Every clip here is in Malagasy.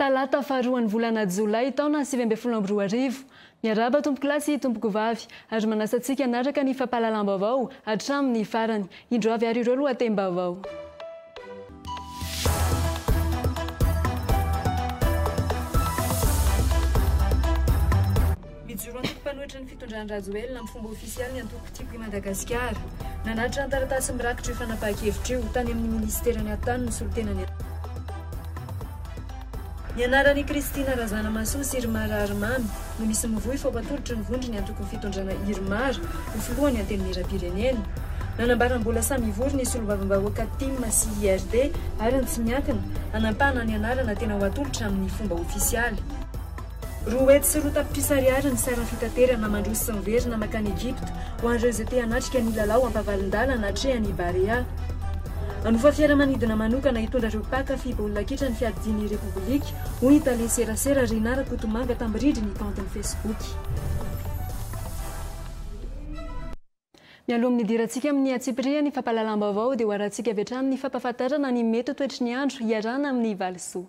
Talata faharoan'ny volana Jolay taona sivy ambin'ny folo amby roa arivo. Miarahaba tompokolahy sy tompokovavy ary manasa antsika hanaraka ny fampahalalam-baovao hatramin'ny farany. Indro avy ary ireo lohatem-baovao. Mijoro antoko mpanohitra ny fitondran'i Rajoelina amin'ny fomba ofisialy ny antoko Tiako i Madagasikara. Nanatitra ny taratasy mirakitra io fanapahan-kevitra io, tany amin'ny minisiteran'ny Atany ny solontenan'ny. Ny anaran' i Kristina Razanamahasoa sy Irma Raharimamy no misy mivoy fa ho atolotry ny vondron' ny Antokon' ny Fitondrana Irmar ho filohan' ny Antenimierampirenena. Nanambara mbola samy hivory ny Solombavambahoaka Tim sy IRD ary ny tsy miankina, hanampahana ny anarana tena ho atolotra amin' ny fomba ôfisialy. Roa hetsy sy roa tapitrisa ariary ny sarin'ny fitaterana mandroso sy miverina mankany Egypta ho an'ireo izay te hanatrika ny lalao ampavalon-dalana atrehan'ny Barea. Hanofa fiaramanidina manokana hitondra ireo mpaka fy baolina kitra ny fiadidian'ny Repoblika, hoy ny tale serasera Rina Rakotomanga tamin'ny rindrin'ny kaontiny Facebook. Mialoha amin'ny hidirantsika amin'ny antsipirihany fampahalalam-baovao dia hoarahantsika avy hatrany ny fampahafantarana ny mety ho toetry ny andro hiarahana amin'ny valisoa.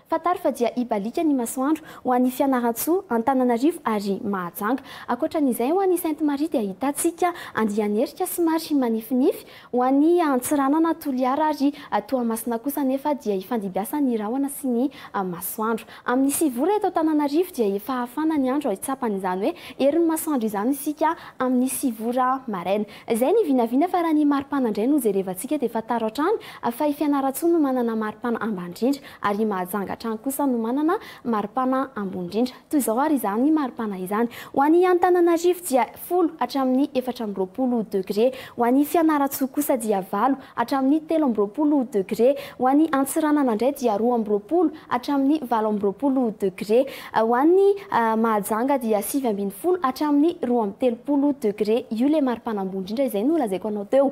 Fantaro fa dia hibaliaka ny masoandro ho any Fianarantsoa, Antananarivo ary Mahajanga. Ankoatra an'izay, ho any Sainte Marie dia ahitantsika andian'erika somary manifinify, ho any Antsiranana, Toliara ary Toamasina kosa anefa dia hifandibiasa ny rahona sy ny masoandro. Amin'ny sivy ora eto Antananarivo dia efa hafana ny andro hitsapana izany hoe herin'ny masoandro izany isika amin'ny sivy ora maraina. Izay ny vinavina fa raha ny maripana indray no jerevantsika dia fantaro hatrany fa i Fianarantsoa no manana maripana ambany indrindra. ary i Mahajanga hatrany kosa no manana maripana ambony indrindra. Toy izao ary izany maripana izany, ho an'i Antananarivo dia folo hatramin'ny efatra amby roapolo degre, ho an'i Fianarantsoa kosa dia valo hatramin'ny telo amby roapolo degre, ho an'i Antsiranana indray dia roa amby roapolo hatramin'ny valo amby roapolo degre, ho an'i Mahajanga dia sivy ambin'ny folo hatramin'ny roa amby telopolo degre. Io ilay maripana ambony indrindra izay nolazaiko anao teo.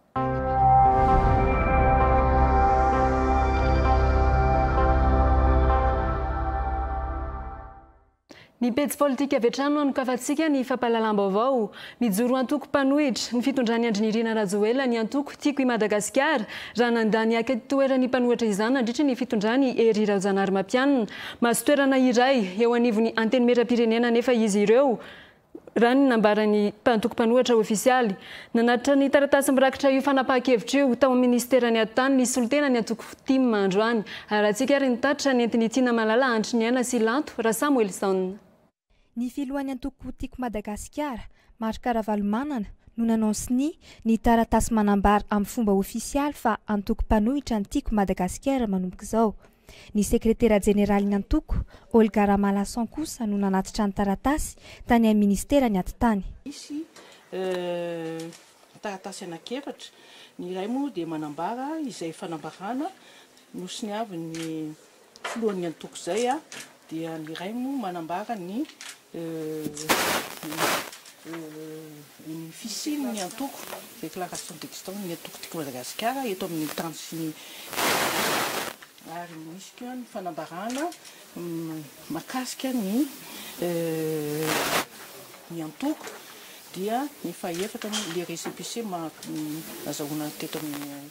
Ny pejy politika avy hatrany no anokavantsika ny fampahalalam-baovao. Mijoro antoko mpanohitra. Ny fitondran'i Andry Nirina Rajoelina ny antoko Tiako i Madagasikara raha nandà ny haka toeran'ny mpanohatra izany nandritra ny fitondran'i Hery Raojanahary Matianina. Mahazo toerana iray eo anivon'ny Antenimierampirenena anefa izy ireo. Raha ny nambaran'ny mpantoko mpanohatra ofisialy, nanatitra ny taratasy mirakitra io fanapahan-kevitra io tao amin'ny minisiteran'ny Atitany ny solontenan'ny antoko Ftim androany. Harahantsika ary ny tatitra nentin'i Tiana Malala Andriniaina sy Lanto Rasamoelison. Ny filohan'ny antoko Tiako Madagasikara, Marc Ravalomanana, no nanao sonia ny taratasy manambara amin'ny fomba ofisialy fa antoko mpanohitra ny Tiako Madagasikara manomboka izao. Ny sekretera jeneralin'ny antoko, Olga Ramalason kosa no nanatitra ny taratasy tany amin'ny minisitera ny atitany. Misy taratasy anankiefatra, ny iray moa dia manambara izay fanambarana nosoniavin'ny filohan'ny antoko izay dia ny iray moa manambara ny ny fisian'ny antoko Déclaration d'existence ny antoko Tiako Madagasikara eto amin'ny tany sy ny faritra ary misy koa ny fanambarana mahakasika ny ny antoko dia efa efatra ny le récépissé maha azahoana teto amin'ny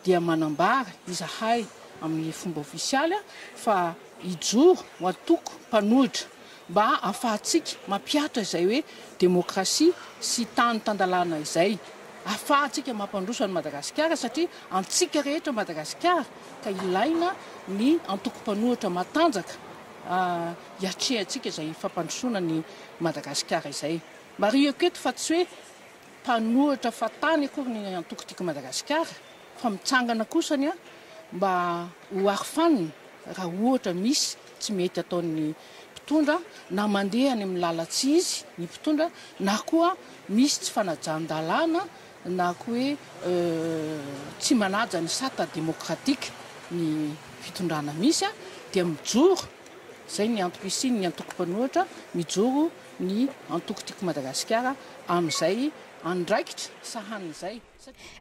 dia manambara izahay amin'ny fomba ofisialy fa hijoro ho antoko mpanohitra mba hahafahantsika mampihatra izay hoe demokrasia sy tany tan-dalàna izay, hahafahantsika mampandroso an'i Madagasikara satria antsika rehetra Madagasikara ka ilaina ny antoko mpanohitra matanjaka. hiatrehantsika izay fampandrosoana an'i Madagasikara izay. Marihiko eto fa tsy hoe mpanohitra fahatany akory ny antoko Tiako Madagasikara fa mitsangana kosa ny ahy mba ho arofanina raha ohatra misy tsy mety ataon'ny mpitondra na mandeha any amin'ny lalan-tsy izy ny mpitondra na koa misy tsy fanajan-dalàna na koa hoe tsy manaja ny sata demokratika ny fitondrana misy dia mijoro Izay ny antoko isian'ny antoko mpanohitra mijoro ny antoko Tiako Madagasikara amin'izay andraikitra sahaniny izay.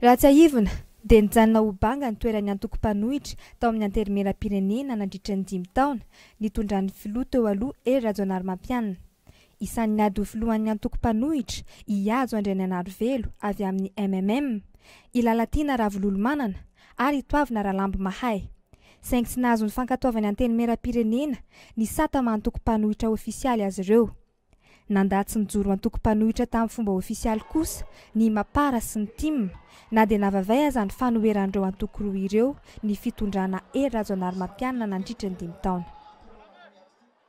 Raha tsiahivina dia nijanona ho banga ny toeran'ny antoko mpanohitra tao amin'ny Antenimierampirenena nandritra ny dimy taona nitondran'ny filoha teo aloha Hery Rajaonarimampianina. Isan'ny ady ho filohan'ny antoko mpanohitra i Hajo Andrianainarivelo avy amin'ny MMM, i Lalatiana Ravololomanana ary i Toavina Ralambimahay. Saingy tsy nahazo ny fankatoavan'ny Antenimierampirenena ny sata maha-antoko mpanohitra ofisialy azy ireo. Nandà tsy nijoro antoko mpanohitra tamin'ny fomba ofisialy kosa ny Mapar sy ny tim, na dia navavay aza ny fanoheran'ireo antoko roa ireo ny fitondrana Hery Rajaonarimampianina nandritra ny dimy taona.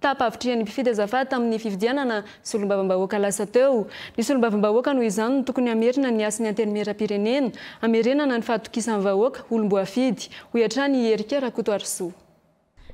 Tapa-havitrihan'ny mpifidy azafady tamin'ny fifidianana solombavambahoaka lasa teo. Ny solombavambahoaka noho izany no tokony hamerina ny hasin'ny Antenimierampirenena, hamerenana ny fahatokisan'ny vahoaka, olom-boafidy, hoy hatrany i Hery K. Rakotoarisoa.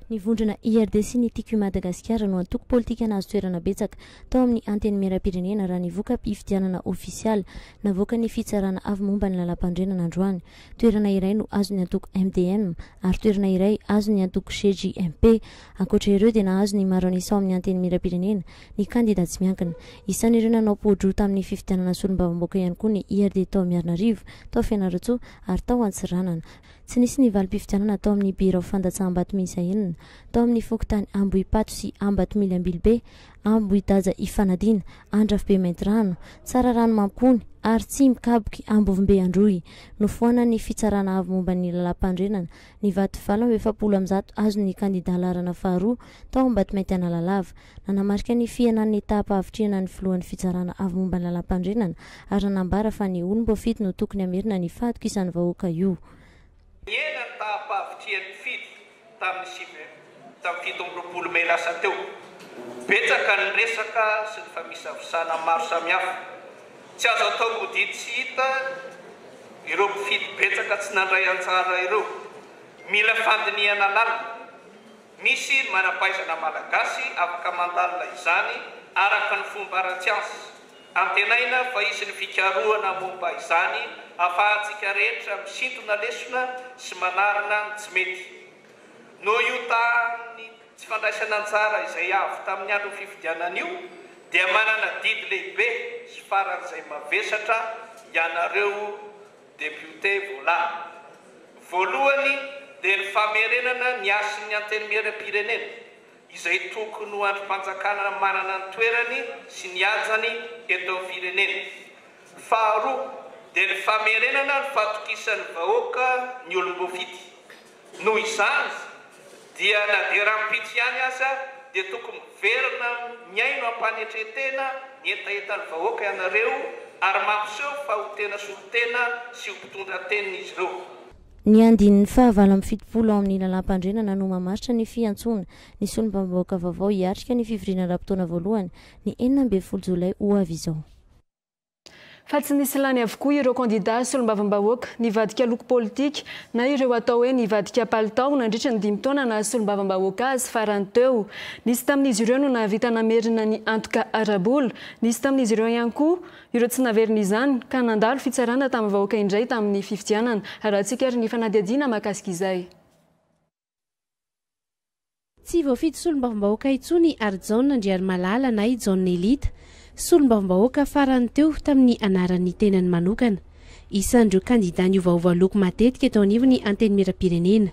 Ny vondrona IRD sy ny Tiako i Madagasikara no antoko politika nahazo toerana betsaka tao amin'ny Antenimierampirenena raha ny voka-pifidianana ofisialy navoakan'ny Fitsarana avo momba ny Lalàmpanorenana androany. toerana iray no azon'ny antoko MDM ary toerana iray azon'ny antoko GJMP. Ankoatra ireo dia nahazo ny maro an'isa ao amin'ny Antenimierampirenena ny kandida tsy miankina. Isan'ireo nanao poa-droa tamin'ny fifidianana solombavambaoka ihany koa ny IRD tao Miarinarivo, tao Fianarantsoa ary tao Antsiranana. Tsy nisy ny valim-pifidianana tao amin'ny birao fandatsaham-bato miisa enina, tao amin'ny fokontany Ambohipato sy Ambatomily Ambilobe, Ambohidaja Ifanadiana, Andrafibe Maintirano, Tsararano Mampony, ary Tsimokaboky, Ambovombe Androy. Nofoanan'ny Fitsarana Avo momba ny Lalàmpandrenana, ny vato valo amby efapolo amin'ny zato azon'ny kandidà laharana faharoa tao Ambatomainty Analalava. Nanamarika ny fihenan'ny etampahvitrihana ny Filohan'ny Fitsarana Avo momba ny Lalàmpandrenana ary nanambara fa ny olom-boafidy no tokony hamerina ny fahatokisan'ny vahoaka io Nihena ny taham-pahavitrihan'ny mpifidy tamin'ny CBM tamin'ny fito amby roapolo mey lasa teo. Betsaka ny resaka sy ny famisavisana maro samihafa. Tsy azo atao mody tsy hita ireo mpifidy betsaka tsy nandray anjara ireo. Mila fandinihana lalina. Misy manam-pahaizana malagasy afaka mandalina izany araka ny fomba ara-tsiansa. Antenaina fa hisy ny fikarohana momba izany ahafahantsika rehetra misintona lesona sy manarina ny tsy mety. Noho io tahan'ny tsy fandraisana anjara izay avo tamin'ny andron'ny fifidianana io dia manana adidy lehibe sy faran'izay mavesatra ianareo. Depiote Vola. Voalohany dia ny famerenana ny hasin'ny Antenimierampirenena izay tokony ho andrim-panjakana manana ny toerany sy ny hajany eto amin'ny firenena. Faharoa dia ny famerenana ny fahatokisan'ny vahoaka ny olom-boafidy. Noho izany dia na dia rahampitso ihany aza dia tokony miverina mihaino am-panetren-tena ny hetahetan'ny vahoaka ianareo ary mampiseho fa ho tena solontena sy ho mpitondra an-teniny izy ireo. Ny andininy fahavalo amby fitopolo ao amin'ny Lalàmpandrenana no mamaritra ny fiantsoana ny solombavambahoaka vaovao hiatrika ny fivoriana ara-potoana voalohany, ny enina ambin'ny folo jolay ho avy izao. fa tsy nisy lany avokoa ireo kandidà solombavambahoaka nivadika loko politika na ireo atao hoe nivadika palitao nandritra ny dimy taona naha solombavambahoaka azy farany teo. Nisy tamin'izy ireo no nahavita namerina ny antoka ara-bola, nisy tamin'izy ireo ihany koa ireo tsy naverina izany ka nandalo fitsarana tamin'ny vahoaka indray tamin'ny fifidianana. Arahantsika ary ny fanadihadiana mahakasika izay. Tsy voafidy solombavambahoaka intsony i Harijaona Andriarimalala na i Jaona Elita, solombavambahoaka farany teo tamin'ny anaran'ny tenany manokana. Isan'ireo kandidà niovaova loko matetika teo anivon'ny Antenimierampirenena.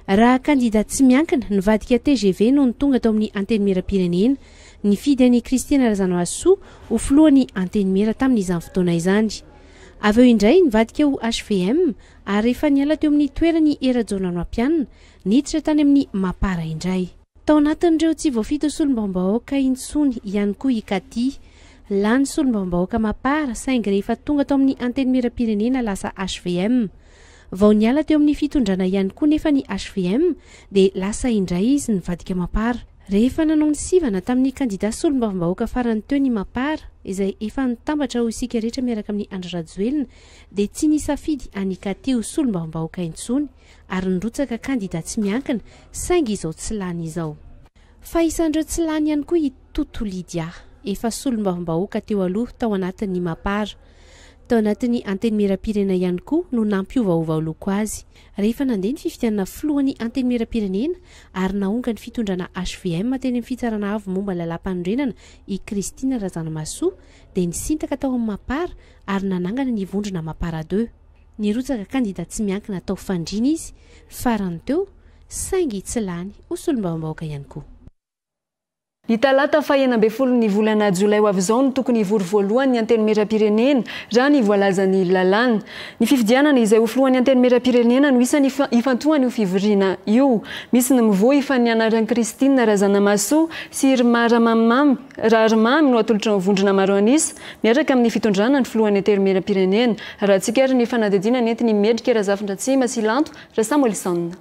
Raha kandidà tsy miankina, nivadika tgv nony tonga tao amin'ny Antenimierampirenena. Nifidy an'i Christiana Razanohasoa ho filohan'ny Antenimiera tamin'izany fotoana izany. Avy eo indray nivadika ho hvm, ary rehefa niala teo amin'ny toerany i Rajaonanampianina, niditra tany amin'ny Mapar indray. Tao anatin'ireo tsy voafito solombavambahoaka intsony ihany koa i Kati. Lany solombavambahoaka Mapar saingy rehefa tonga tao amin'ny Antenimierampirenena lasa HVM. Vao niala teo amin'ny fitondrana ihany koa nefa ny HVM dia lasa indray izy nivadika Mapar. Rehefa nanao ny sivana tamin'ny kandida solombavambahoaka farany teo ny Mapar, izay efa nitambatra ho isika rehetra miaraka amin'i Andry Rajoelina, dia tsy nisafidy an'i Ikati ho solombavambahoaka intsony ary nirotsaka kandida tsy miankina saingy izao tsy lany izao. Fa isan'ireo tsy lany ihany koa i Tutu Lydia, efa solombavambahoaka teo aloha tao anatin'ny Mapar. Tao anatin'ny Antenimierampirenena ihany koa no nampiovaova loko azy, rehefa nandeha ny fifidianana filohan'ny Antenimierampirenena ary nahonga ny fitondrana hvm teny amin'ny Fitsarana Avo momba ny Lalàmpanorenana i Christine Razanamahasoa dia nisintaka tao amin'ny Mapar ary nanangana ny vondrona Mapara deux. Nirotsaka kandida tsy miankina tao Fandriana izy farany teo saingy tsy lany ho solombavambahoaka ihany koa. Ny talata faha enina ambin'ny folo ny volana jolay ho avy izao no tokony hivory voalohany ny Antenimierampirenena raha ny voalazan'ny lalàna. Ny fifidianana izay ho filohan'ny Antenimierampirenena no isany ifantohan'io fivoriana io. Misy ny mivohy fa ny anaran'i Christine Razanamahasoa sy Irma Ramamimamy. Raharimamy no atolotry ny vondrona maro an'isa, miaraka amin'ny fitondrana ny filohan'ny Antenimierampirenena. Raha tsikera ny fanadihadiana nentin' i Mendrika Razafindratsima sy Lanto Rasamuelson.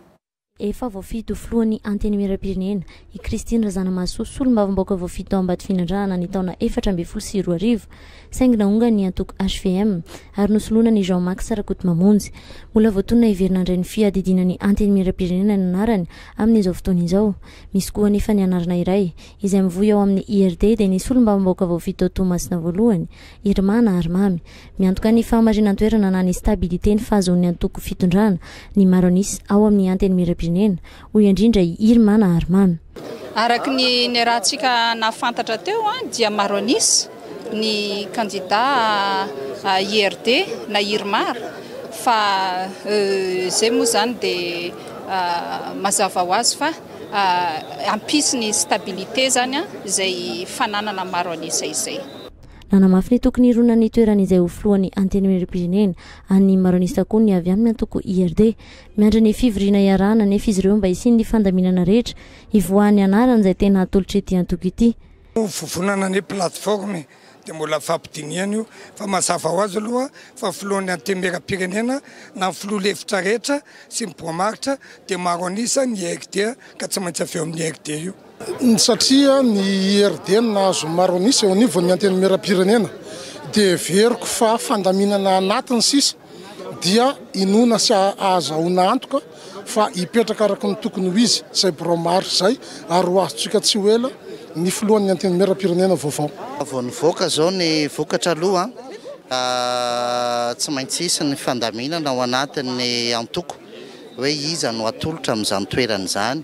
Efa voafidy ho filohan'ny Antenimierampirenena i Christine Razanamahasoa solombavambaoka voafidy tao Ambatofinandrahana ny taona efatra ambin'ny folo sy roa arivo, saingy naongany ny antoko hvm ary nosolonan' i Jean Max Rakotomamonjy. Mbola voatonona hiverina handray ny fiadidiana ny Antenimierampirenena ny anarany amin'izao fotoana izao. Misy koa anefa ny anarana iray izay mivoy ao amin'ny IRD dia ny solombavambahoaka voafidy tao Toamasina voalohany, Irma na Arimamy. Miantoka ny fahamarinan-toerana na ny stabilité ny fahazoan'ny antoko fitondrana ny maro an'isa ao amin'ny Antenimierampirenena, hoy indrindra i Irma na Arimamy. Araka ny niarahantsika nahafantatra teo dia maro an'isa ny kandida IRD na Irma fa izay moa izany dia mazava ho azy fa. hampisy ny stabilité izany izay fananana maro an'isa izay. Nanamafy ny tokony hironana ny toerany izay ho filohan'ny Antenimierampirenena an'i Maronista koa ny avy amin'ny antoko IRD. Miandry ny fivoriana iarahana anefa izy ireo mba hisian'ny fandaminana rehetra hivoahan'ny anarany izay tena atolotr'ity antoko ity. Ho vovonana ny plateforme dia mbola fampidinihana io fa mazava ho azy aloha fa filohan'ny antenimieram-pirenena na ny filoha lefitra rehetra sy ny boamaritra dia maro an'isa ny IRD ka tsy maintsy avy eo amin'ny IRD io. Satria ny IRD no nahazo ny maro an'isa eo anivon'ny antenimieram-pirenena dia heveriko fa fandaminana anatiny sisa dia inoana sy ahazahoana antoka fa hipetraka araka ny tokony ho izy izay birao maharitra izay ary ho azontsika tsy ho ela ny filohan'ny Antenimierampirenena vaovao. Vao nivoaka izao ny vokatra aloha tsy maintsy hisy ny fandaminana ao anatin'ny antoko hoe iza no atolotra amin'izany toerana izany.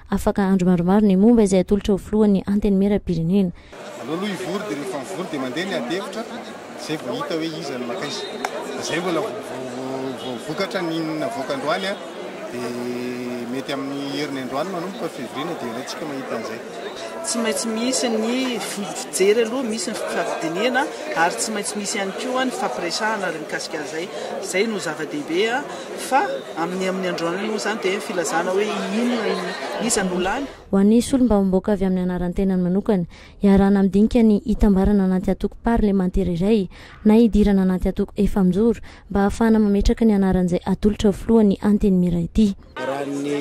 Afaka andro maromaro ny momba izay atolotra ho filohan'ny Antenimierampirenena. Aloloha hivory dia rehefa mivory dia mandeha ny adihevitra izay vao hita hoe iza no maka izy. Izay mbola vao vokatra ny navoaka androany an, dia mety amin'ny heriny androany manomboka février no dia ilaintsika mahita an'izay. Tsy maintsy misy ny fijery aloha, misy ny fifamdinihana ary tsy maintsy misy ihany koa ny fifampiresahana ary mikasika an'izay. Izay no zava-dehibe fa. Amin'ny amin'ny androany moa izany dia filazana hoe inona, iza no lany? Ho an'ny solombavambahoaka avy amin'ny anaran-tenany manokana, iarahana amin'ny dinika ny hitambarana anaty antoko parlemantera iray na hidirana anaty antoko efamijoro mba hahafahana mametraka ny anaran'izay atolotra ho filohan'ny Antenimiera ity. Raha ny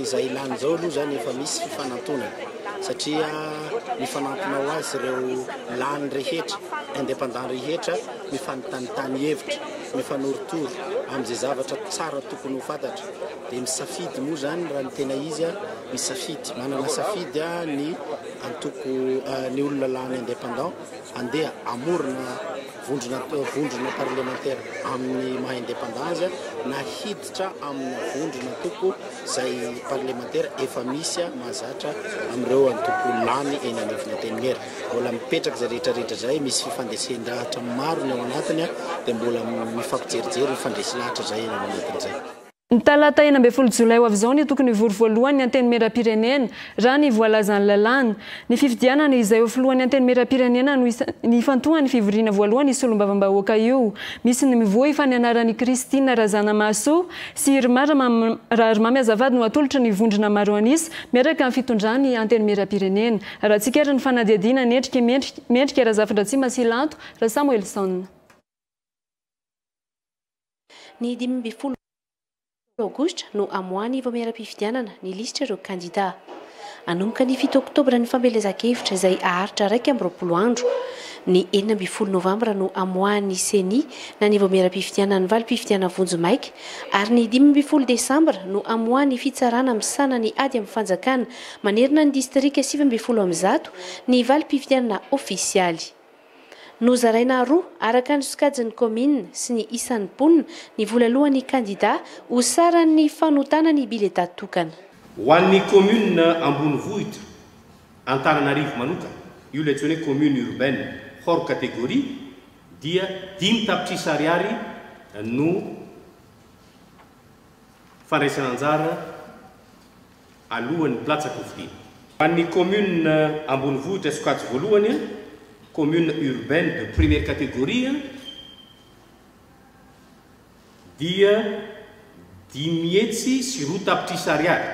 izay ilàny izao aloha izany efa misy fifanantonana satria mifanantona ho azy ireo lany rehetra, independants rehetra, Mifanontanintany hevitra, mifanorotoro amin'izay zavatra tsara tokony ho fantatra, dia misafidy moa izany raha ny tena izy a, misafidy, manana safidy a ny antoko, ny olona lany independant handeha hamorona vondrona, vondrona parlemantera amin'ny maha independant azy a, na hiditra amina vondrona antoko izay parlemantera efa misy a, mahazatra amin'ireo antoko lany eny anivon'ny antenimiera. Mbola mipetraka izay rehetra rehetra izay, misy fifandesen-dahatra maro ny ao anatiny dia mbola mifampijerijery, mifandresy lahatra izay ny ao anatiny izay. Ny talata enina ambin'ny folo jolay ho avy izao no tokony hivory voalohany ny Antenimierampirenena, raha ny voalazan'ny lalàna. Ny fifidianana izay ho filohan'ny Antenimierampirenena no ifantohan'ny fivoriana voalohany io solombavambahoaka io. Misy ny mivohy fa ny anaran' i Christine Razanamahasoa sy i Rma Raharimamy Azafady no atolotry ny vondrona maro an'isa miaraka amin'ny fitondran'ny Antenimierampirenena. Raha tsikera ny fanadihadiana Mendrika, mendrika, mendrika Razafindratsima sy Lanto, Rasamoelison. Ny dimy ambin'ny folo aogositra no hamoahan'ny Vaomieram-pifidianana ny lisitra ireo kandidà. Hanomboka ny fito oktobra ny fampielezan-kevitra izay haharitra iraika amby roapolo andro. Ny enina ambin'ny folo novambra no hamoahan'ny Ceni na ny Vaomieram-pifidianana ny valim-pifidianana vonjimaika ary ny dimy ambin'ny folo desambra no hamoahan'ny Fitsarana misahana ny ady amin'ny fanjakana Manerana ny distrika sivy ambin'ny folo amin'ny zato ny valim-pifidianana ofisialy. Nozaraina roa, araka ny sokajin'ny kaominina sy ny isan'ny mponina, ny vola alohan'ny kandidà ho saran'ny fanotana ny biletà tokana. Ho an'ny kaominina ambonivohitra Antananarivo manokana, io ilay antsoina hoe commune urbaine hors catégorie, dia dimy tapitrisa ariary no fandraisana anjara alohan'ny mpilatsaka ho fidiana. Ho an'ny kaominina ambonivohitra sokajy voalohany, communes urbaines de première catégorie, dia dimy hetsy sy roa tapitrisa ariary,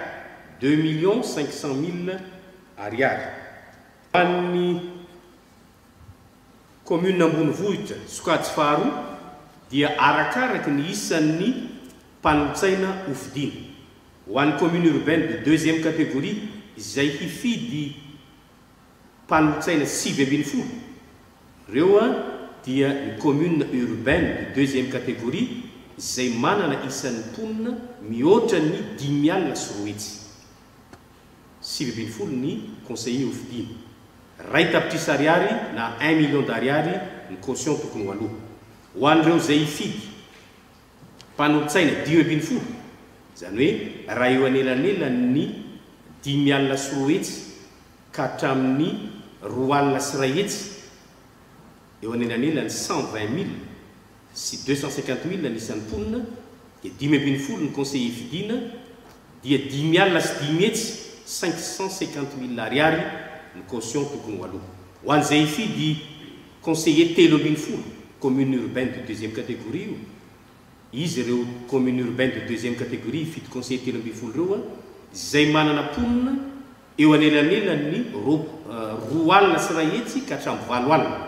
deux millions cinq cent mille ariary. Ho an'ny kaominina ambonivohitra sokajy faharoa dia arakaraky ny isan'ny mpanolotsaina ho fidiana. Ho an'ny commune urbaine de deuxième catégorie izay hifidy mpanolotsaina sivy ambin'ny folo, ireo dia ny communes urbaines de deuxième catégorie izay manana isan'ny mponina mihoatra ny dimy alina sy roa hetsy. Sivy ambin'ny folo ny conseillers hofidiana. Iray tapitrisa ariary na un million d'ariary ny caution tokony ho aloa. Ho an'ireo izay hifidy. Mpanolotsaina dimy ambin'ny folo, izany hoe raha eo anelanelan'ny dimy alina sy roa hetsy ka hatramin'ny roa alina sy iray hetsy, eo anelanelan'ny cent vingt mille sy deux cent cinquante mille ny isan'ny mponina, dia dimy ambin'ny folo ny conseiller fidiana, dia dimy alina sy dimy hetsy, cinq cent cinquante mille Ariary, ny caution tokony ho aloa. Ho an'izay hifidy. Conseiller telo ambin'ny folo commune urbaine de deuxième catégorie io, izy ireo commune urbaine de deuxième catégorie hifidy conseiller telo ambin'ny folo ireo an, izay manana mponina eo anelanelan'ny roa alina sy iray hetsy ka hatramin'ny valo alina,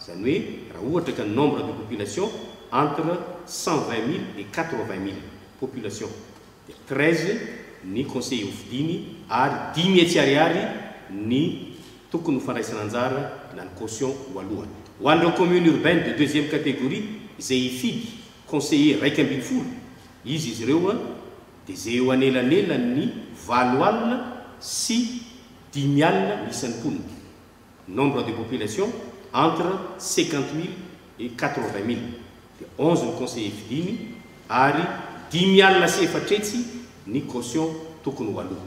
izany hoe raha ohatra ka ny nombre de population entre cent vingt mille et quatre vingt mille population. treize ny conseiller ho fidiany ary dimy hetsy ariary ny tokony ho fandraisana anjara na ny caution voalohany. Ho an'ireo communes urbaines de deuxième catégorie izay hifidy conseiller iraika ambin'ny folo izy izy ireo dia izay eo anelanelan'ny valo alina sy dimy alina ny isan'ny mponina. Nombre de population entre cinquante mille et quatre vingt mille dia onze ny conseillers fidiny ary dimy alina sy efatra hetsy ny caution tokony ho aloa.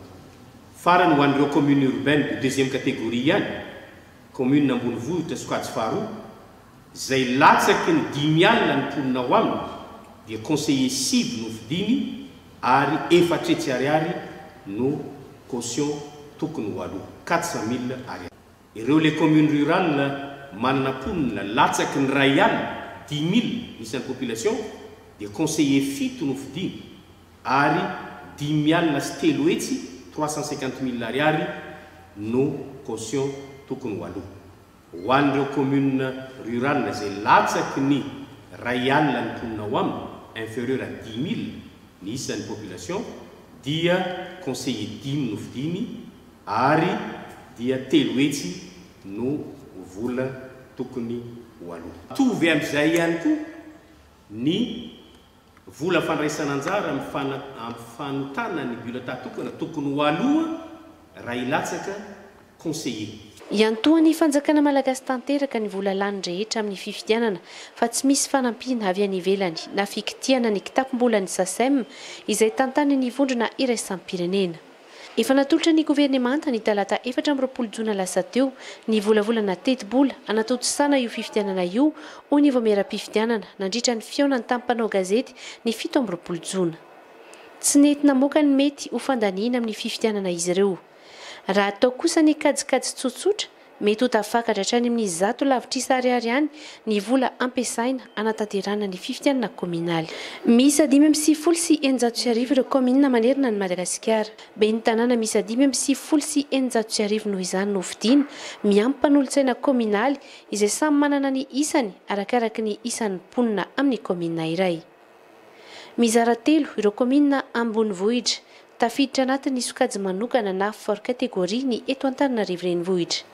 Farany ho an'ireo communes urbaines de deuxième catégorie ihany, communes ambonivohitra sokajy faharoa, izay latsaky ny dimy alina ny mponina ao aminy dia conseiller sivy no fidiny ary efatra hetsy ariary no caution tokony ho aloa, quatre cent mille ariary. Ireo les communes rurales manana mponina latsaky ny iray alina, dix mille, ny isan'ny population dia conseiller fito no fidiny ary dimy alina sy telo hetsy, trois cent cinquante mille ariary, no caution tokony ho aloa. Ho an'ireo communes rurales izay latsaky ny iray alina ny mponina ao aminy, inferieur à dix mille ny isan'ny population, dia conseiller dimy no fidiny ary dia telo hetsy no vola tokony ho aloa. Mitovy amin'izay ihany koa ny. Vola fandraisana anjara amin'ny fanotana ny bulletin tokana tokony ho aloa raha hilatsaka conseiller. Iantohan'ny fanjakana malagasy tanteraka ny vola lany rehetra amin'ny fifidianana fa tsy misy fanampiana avy any ivelany na fikitihana ny kitapom-bolan'ny Sacem izay tantanin'ny vondrona iraisam-pirenena. Efa natolotra ny governemanta ny talata efatra amby roapolo jona lasa teo ny volavolana tetibola hanatontosana io fifidianana io, hoy ny vaomieram-pifidianana nandritra ny fihaonany tamin'ny mpanao gazety ny fito amby roapolo jona. Tsy nety namoaka ny mety ho fandaniana amin'ny fifidianana izy ireo. Raha atao kosa ny kajikajy tsotsotra, Mety ho tafakatra hatrany amin'ny zato lavitrisa ariary any ny vola ampiasaina hanatanterahana ny fifidianana kaominaly. Miisa dimy amby sivifolo sy eninjato sy arivo ireo kaominina manerana an'i Madagasikara. Ben'ny tanàna miisa dimy amby sivifolo sy eninjato sy arivo noho izany no hofidiana, miampy mpanolotsaina kaominaly, izay samy manana ny isany, arakaraka ny isan'ny mponina amin'ny kaominina iray. Mizara telo ireo kaominina ambonivohitra tafiditra anatin'ny sokajy manokana na for catégorie ny eto Antananarivo Renivohitra.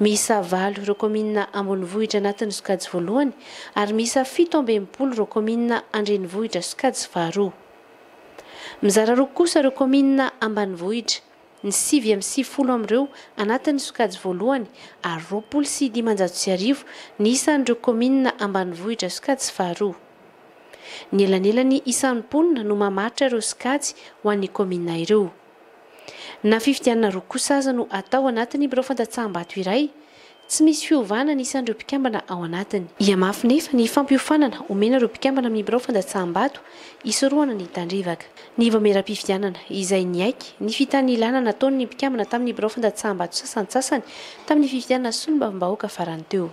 Miisa valo ireo kaominina ambonivohitra anatin'ny sokajy voalohany ary miisa fito amby enimpolo ireo kaominina an-drenivohitra sokajy faharoa. Mizara roa kosa ireo kaominina ambanivohitra. ny sivy amby sivifolo amin'ireo anatin'ny sokajy voalohany ary roapolo sy dimanjato sy arivo ny isan'ireo kaominina ambanivohitra sokajy faharoa. Ny elanelan'ny isan'ny mponina no mamaritra ireo sokajy ho an'ny kaominina ireo. Na fifidianana roa kosa aza no atao anatin'ny birao fandatsaham-bato iray Tsy misy fiovana ny isan'ireo mpikambana ao anatiny. Hihamafy nefa ny fampiofanana omena ireo mpikambana amin'ny birao fandatsaham-bato hisorohana ny tandrevaka. Ny vaomieram-pifidianana, izay niaiky ny fitanilana nataon'ny mpikambana tamin'ny birao fandatsaham-bato sasantsasany tamin'ny fifidianana solombavambahoaka farany teo.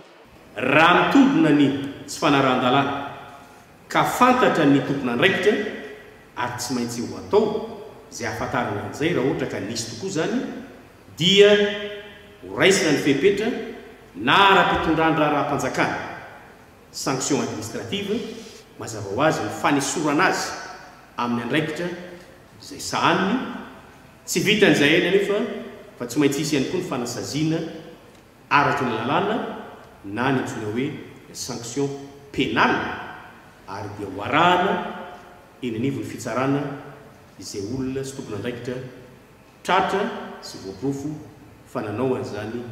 Raha mitombina ny tsy fanarahan-dalàna ka fantatra ny tompon'andraikitra ary tsy maintsy ho atao izay hahafantarana an'izay raha ohatra ka nisy tokoa izany, dia ho raisina ny fepetra na ara-pitondran-draharaham-panjakana, sanction administrative, mazava ho azy ny fanesorana azy amin'ny andraikitra izay sahaniny, tsy vitan'izay ihany anefa fa tsy maintsy hisy ihany koa ny fanasaziana araky ny lalàna na ny antsoina hoe sanction pénale ary dia ho arahana eny anivon'ny fitsarana izay olona sy tompon'andraikitra Tratra sy voaporofo fa nanao an'izany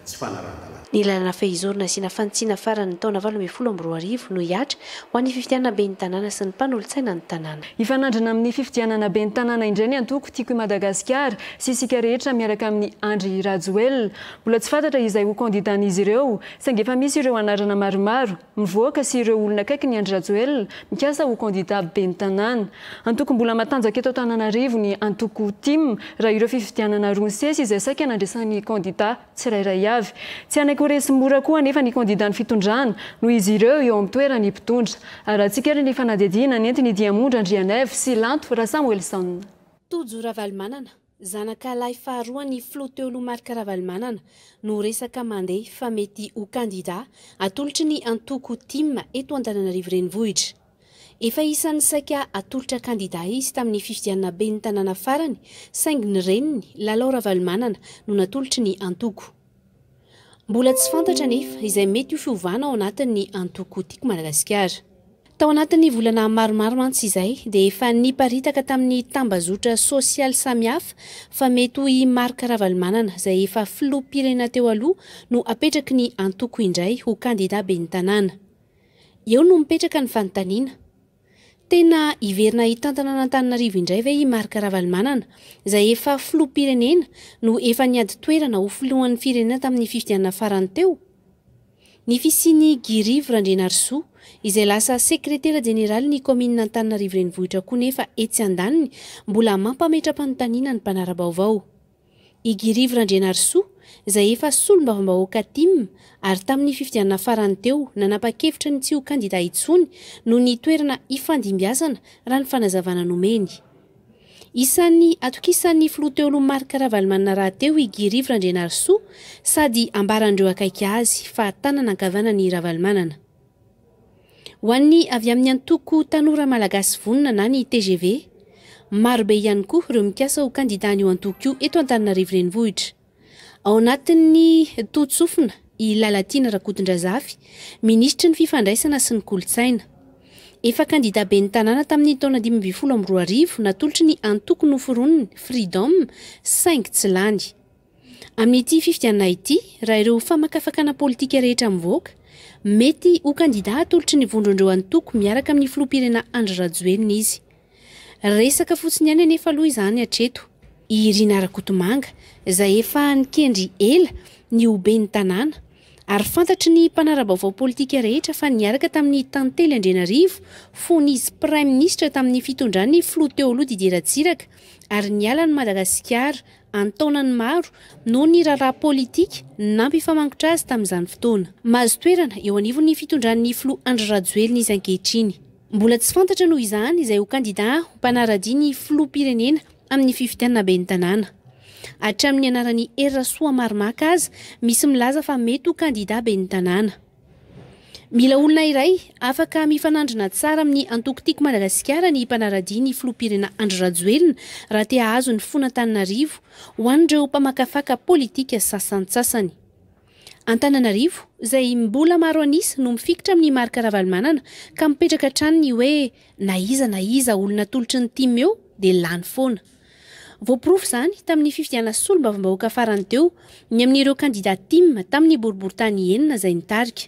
tsy fanarahan-dalàna. Ny lalana fehizoro nasiana fanitsiana farany ny taona valo ambin'ny folo amby roa arivo no hihatra ho an'ny fifidianana ben'ny tanàna sy ny mpanolotsaina ny tanàna. Hifanandrina amin'ny fifidianana ben'ny tanàna indray ny antoko Tiako i Madagasikara sy isika rehetra miaraka amin'i Andry Rajoelina. Mbola tsy fantatra izay ho kandidàn'izy ireo saingy efa misy ireo anarana maromaro. mivoaka sy ireo olona akaiky ny Andry Rajoelina mikasa ho kandida ben'ny tanàna. Antoko mbola matanjaka eto Antananarivo ny antoko tim raha ireo fifidianana roa ny sesy izay saika nandraisan'ny kandida tsirairay avy. Tsy hanaiky ho resy mora koa anefa ny kandidan'ny fitondrana noho izy ireo eo amin'ny toeran'ny mpitondra. Arahantsika ary ny fanadihadiana nentin'i Diamondra Andrianaivo sy Lanto Rasamoelison. Tojo Ravalomanana. Zanaka lahy faharoan'ny filoha teo aloha Marc Ravalomanana no resaka mandeha fa mety ho kandidà atolotry ny antoko tim eto Antananarivo Renivohitra. Efa isan'ny saika hatolotra kandidà izy tamin'ny fifidianana ben'ny tanàna farany saingy ny reniny, Lalao Ravalomanana no natolotry ny antoko. Mbola tsy fantatra anefa izay mety ho fiovana ao anatin'ny antoko Tiako Madagasikara. Tao anatin'ny volana maromaro mantsy izay dia efa niparitaka tamin'ny tambazotra sosialy samihafa fa mety ho i Marc Ravalomanana izay efa filoham-pirenena teo aloha no hapetraky ny antoko indray ho kandida ben'ny tanàna. Eo no mipetraka ny fanontaniana. Tena hiverina hitantana an'Antananarivo indray ve i Marc Ravalomanana, izay efa filoham-pirenena no efa niady toerana ho filohan'ny firenena tamin'ny fifidianana farany teo? Ny fisian'i Guy Rivo Randrianarisoa, izay lasa sekretera jeneralin'ny kaominina Antananarivo Renivohitra koa nefa etsy andaniny mbola mampametra-panontaniana ny mpanara-baovao. I Girivo Randrianarisoa, izay efa solombavambahoaka tim, ary tamin'ny fifidianana farany teo nanapa-kevitra ny tsy ho kandida intsony noho ny toerana ifandimbiasana, raha ny fanazavana nomeny. Isan'ny atokisan'ny filoha Teolo Marc Ravalomanana rahateo i Girivo Randrianarisoa sady ambaran'ireo akaiky azy fa tanana ankavanan'i Ravalomanana. Ho an'ny avy amin'ny antoko Tanora Malagasy Vonona na ny tgv, marobe ihany koa ireo mikasa ho kandidan'io antoko io eto Antananarivo Renivohitra. Ao anatin'ny totsofina i Lalatiana Rakotondrazafy, minisitry ny Fifandraisana sy ny kolontsaina. Efa kandida ben'ny tanàna tamin'ny taona dimy ambin'ny folo amby roa arivo natolotry ny antoko noforoniny, Freedom, saingy tsy lany. Amin'ity fifidianana ity, raha ireo famakafakana politika rehetra mivoaka, mety ho kandidà atolotry ny vondron'ireo antoko miaraka amin'ny filoham-pirenena Andry Rajoelina izy. Resaka fotsiny ihany anefa aloha izany hatreto. I Irina Rakotomanga, izay efa nikendry ela ny ho ben'ny tanàna, ary fantatry ny mpanara-baovao politika rehetra fa niaraka tamin'i Tantely Andrianarivo fony izy praiminisitra tamin'ny fitondran'ny filoha teo aloha Didier Ratsiraka ary niala an'i Madagasikara an-taonany maro noho ny raharaha politika nampifamangotra azy tamin'izany fotoana. Mahazo toerana eo anivon'ny fitondran'ny filoha Andry Rajoelina izy ankehitriny. Mbola tsy fantatra noho izany izay ho kandidà ho mpanara-dia ny filoham-pirenena amin'ny fifidianana ben'ny tanàna. Hatramin'ny anaran'i Hery Rasoamaromaka aza misy milaza fa mety ho kandidà ben'ny tanàna. Mila olona iray afaka mifanandrina tsara amin'ny antoko Tiako Madagasikara ny mpanara-dia ny filoham-pirenena Andry Rajoelina raha te hahazo ny fon'Antananarivo, ho an'ireo mpamakafaka politika sasantsasany. Antananarivo, izay mbola maro an'isa no mifikitra amin'i Marc Ravalomanana ka mipetraka hatrany ny hoe na iza na iza olona atolotry ny tim eo dia lany foana. Voaporofo izany tamin'ny fifidianana solombavambahoaka farany teo ny amin'ireo kandidà Tim tamin'ny boriborintany enina izay nitarika.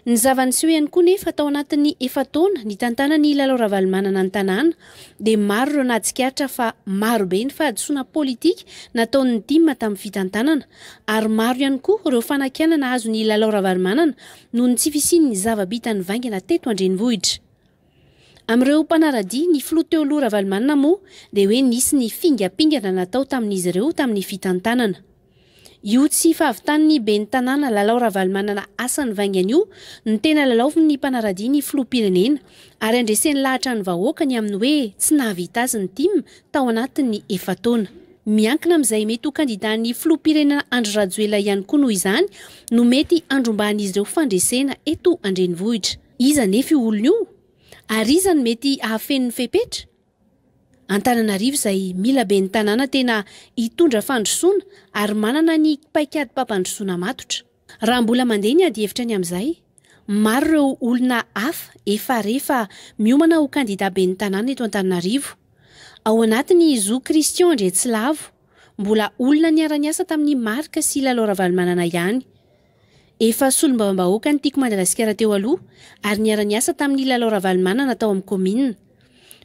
Ny zava-niseho ihany koa nefa tao anatin'ny efa-taona nitantanan'i Lalao Ravalomanana ny tanàna dia maro ireo nahatsikaritra fa marobe ny fahadisoana politika nataon'ny Tim tamin'ny fitantanana ary maro ihany koa ireo fanakianana azon'i Lalao Ravalomanana noho ny tsy fisian'ny zava-bita nivaingana teto an-drenivohitra. Amin'ireo mpanara-dia ny filoha teo aloha Ravalomanana moa dia hoe nisy ny fingampingana natao tamin'izy ireo tamin'ny fitantanana io tsy fahavitan'ny ben'ny tanàna Lalao Ravalomanana asany vaingany io no tena lalaovin'ny mpanara-dia ny filoham-pirenena ary andreseny lahatra ny vahoaka ny amin'ny hoe tsy nahavita azy ny tim tao anatin'ny efa-taona. Miankina amin'izay mety ho kandidan'ny filoham-pirenena Andry Rajoelina ihany koa noho izany no mety handrombahan'izy ireo fandresena eto an-drenivohitra. Iza anefa io olona io? Ary iza no mety hahafeno ny fepetra? Antananarivo izay mila ben'ny tanàna tena hitondra fandrosoana ary manana ny paikadim-pampandrosoana matotra. Raha mbola mandeha ny adihevitra ny amin'izay, maro ireo olona hafa efa re fa miomana ho kandida ben'ny tanàna eto Antananarivo. Ao anatiny i Zo Christian Andriantsilavo, mbola olona niara-niasa tamin'i Marc sy Lalao Ravalomanana ihany. Efa solombavambahoaka ny Tiko Madagasikara teo aloha ary niara-niasa tamin'i Lalao Ravalomanana tao amin'ny kaominina.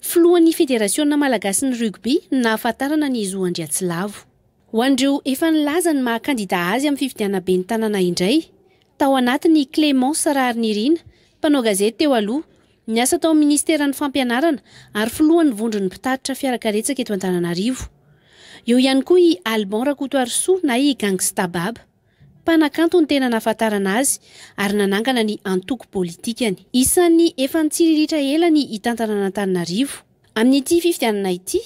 Filohan'ny Federasiona malagasin'ny rugby no nahafantarana ny zo Andriatsilavo. Ho an'ireo efa nilaza ny maha kandida azy amin'ny fifidianana ben'ny tanàna indray, tao anatiny i Clémence Raharinirina, mpanao gazety teo aloha, niasa tao amin'ny minisiteran'ny Fampianarana ary filohan'ny vondron'ny mpitatitra fiarakaretsaka eto Antananarivo. Eo ihany koa i Alban Rakotoarisoa na i Gangsta Bab. Mpanakanto ny tena nahafantarana azy ary nanangana ny antoko politikany. Isan'ny efa nitsiriritra ela ny hitantana an'Antananarivo. Amin'ity fifidianana ity,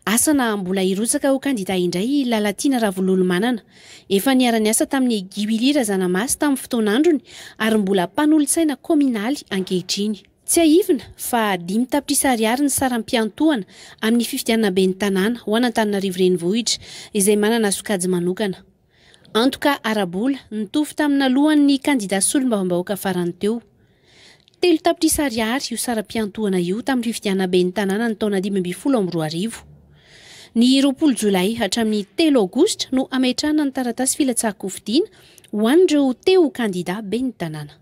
asa na mbola hirotsaka ho kandida indray i Lalatiana Ravololomanana. Efa niara-niasa tamin'i Guy Willy Razanamasy tamin'ny fotoan'androny ary mbola mpanolotsaina kaominaly ankehitriny. Tsiahivina fa dimy tapitrisa ariary ny saram-piantohana amin'ny fifidianana ben'ny tanàna ho an'Antananarivo Renivohitra izay manana sokajy manokana. Antoka ara-bola nitovy tamina lohan'ny kandida solombavambahoaka farany teo. Telo tapitrisa ariary io saram-piantohana io tamin'ny fifidianana ben'ny tanàna ny taona dimy ambin'ny folo amby roa arivo. Ny roapolo jolay hatramin'ny telo aogositra no hametrahana ny taratasy filatsahan-kofidiana ho an'ireo te ho kandida ben'ny tanàna.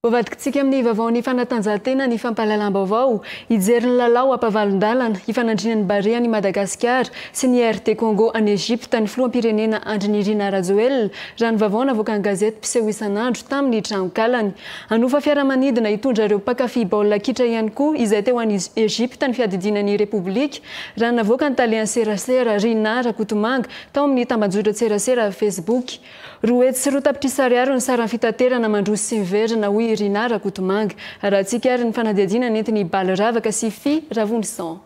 Hovadikintsika amin'ny vaovaon'ny fanatanjahantena ny fampahalalam-baovao, hijery ny lalao ampavalon-dalana hifanandriana ny Barea an'i Madagasikara sy ny RD Congo any Egypte ny filoham-pirenena Andry Nirina Rajoelina, raha ny vaovao navoakan'ny gazety mpiseho isan'andro tamin'ny tranonkalany. Hanofa fiaramanidina hitondra ireo mpankafy baolina kitra ihany koa izay teo any Egypte ny fiadidiana ny Repoblika, raha navoakan'ny tale an-tserasera Rinah Rakotomanga tao amin'ny tambajotra an-tserasera Facebook. Roa hetsy sy roa tapitrisa ariary ny saran'ny fitaterana mandroso sy miverina, hoy i Rinah Rakotomanga. Arahantsika ary ny fanadihadiana nentin' i Bally Ravaka sy i Fy Ravonison.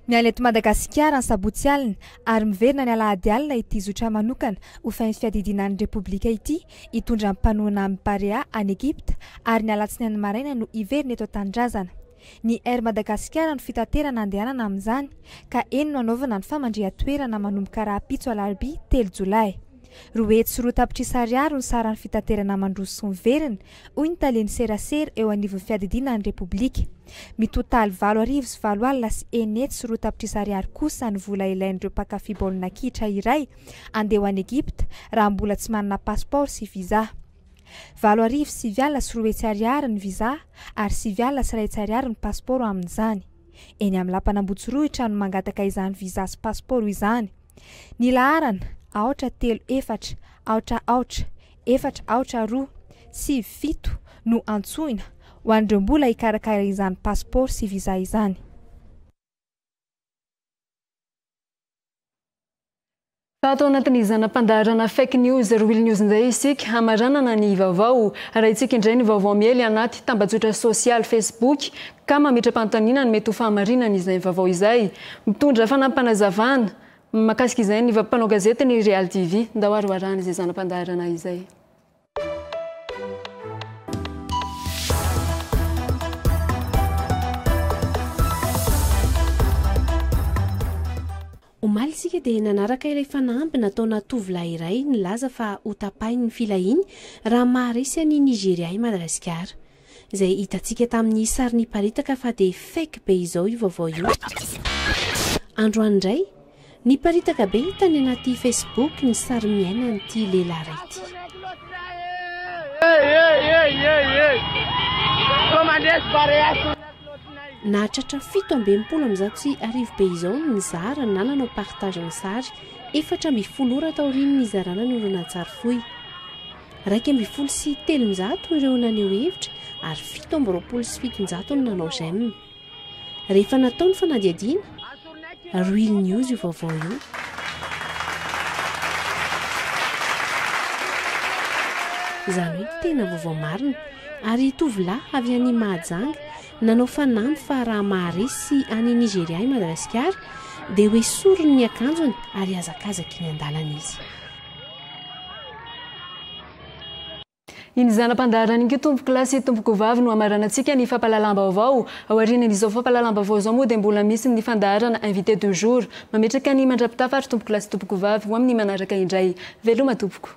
Niala eto Madagasikara ny sabotsy alina ary miverina ny alahady alina ity zotra manokana ho fin fiadidiana ny Repoblika ity hitondra ny mpanohana amin'ny Barea any Egypta ary ny alatsinainy maraina no hiverina eto an-tanindrazana. Ny Air Madagasikara no fitaterana andehanana amin'izany ka eny no anaovana ny famandrihan-toerana manomboka rahampitso alarobia telo jolay. Roa hetsy sy roa tapitrisa ariary no saran'ny fitaterana mandroso sy miverina, hoy ny talen'ny serasera eo anivon'ny Fiadidiana ny Repoblika. Mitotaly valo arivo sy valo alina sy eny hetsy sy roa tapitrisa ariary kosa ny vola ilain'ireo mpankafy baolina kitra iray andeha ho any Egypta raha mbola tsy manana pasipaoro sy visa. Valo arivo sivy alina sy roa hetsy ariary ny visa ary sivy alina sy iray hetsy ariary ny pasipaoro amin'izany. Eny amin'ny lapan'Ambotsirohitra no mangataka izany visa sy pasipaoro izany. Ny laharana, aotra telo efatra, aotra aotra, efatra aotra roa, sivy fito, no antsoina, ho an'ireo mbola hikarakara izany pasipaoro sy visa izany. Fa ato anatin'ny zana-pandaharana fake news real news indray isika hamaranana ny vaovao. Arahintsika indray ny vaovao miely anaty tambajotra sosialy Facebook ka mametra-panontaniana ny mety ho fahamarinany izay vaovao izay. Mitondra fanampim-panazavana mahakasika izay ny mpanao gazety ny Real TV. Ndao haroharahana izay zana-pandaharana izay. Omaly isika dia nanaraka ilay fanamby nataona tovolahy iray nilaza fa ho tapahin'ny filahiany raha maharesy an'i Nigeria i Madagasikara. Izay hitantsika tamin'ny sary niparitaka fa dia fake be izao io vaovao io. Androany indray, niparitaka be tany anaty Facebook ny sary miaina an'ity lehilahy iray ity. Nahatratra fito amby enimpolo amin'ny zato sy arivo be izao ny nizara na nanao partage ny sary, efatra amby folo ora taorian'ny nizarana ny horonantsary fohy. Iraika ambin'ny folo sy telonjato ireo naneho hevitra ary fito amby roapolo sy fitonjato no nanao j'aime. Rehefa natao ny fanadihadiana, Real News io vaovao io. Izany hoe tena vaovao marina. Ary tovolahy avy any Mahajanga nanao fanamby fa raha maharesy sy any Nigeria i Madagasikara dia hoesoriny ny akanjony ary hazakazaka eny an-dalana izy. Iny zana-pandaharana iny koa tompoko lahy sy tompoko vavy no hamaranantsika ny fampahalalam-baovao. Aorian'izao fampahalalam-baovao izao moa dia mbola misy ny fandaharana invité du jour. Mametraka ny mandrapitafa ary tompoko lahy sy tompoko vavy ho amin'ny manaraka indray. Veloma tompoko.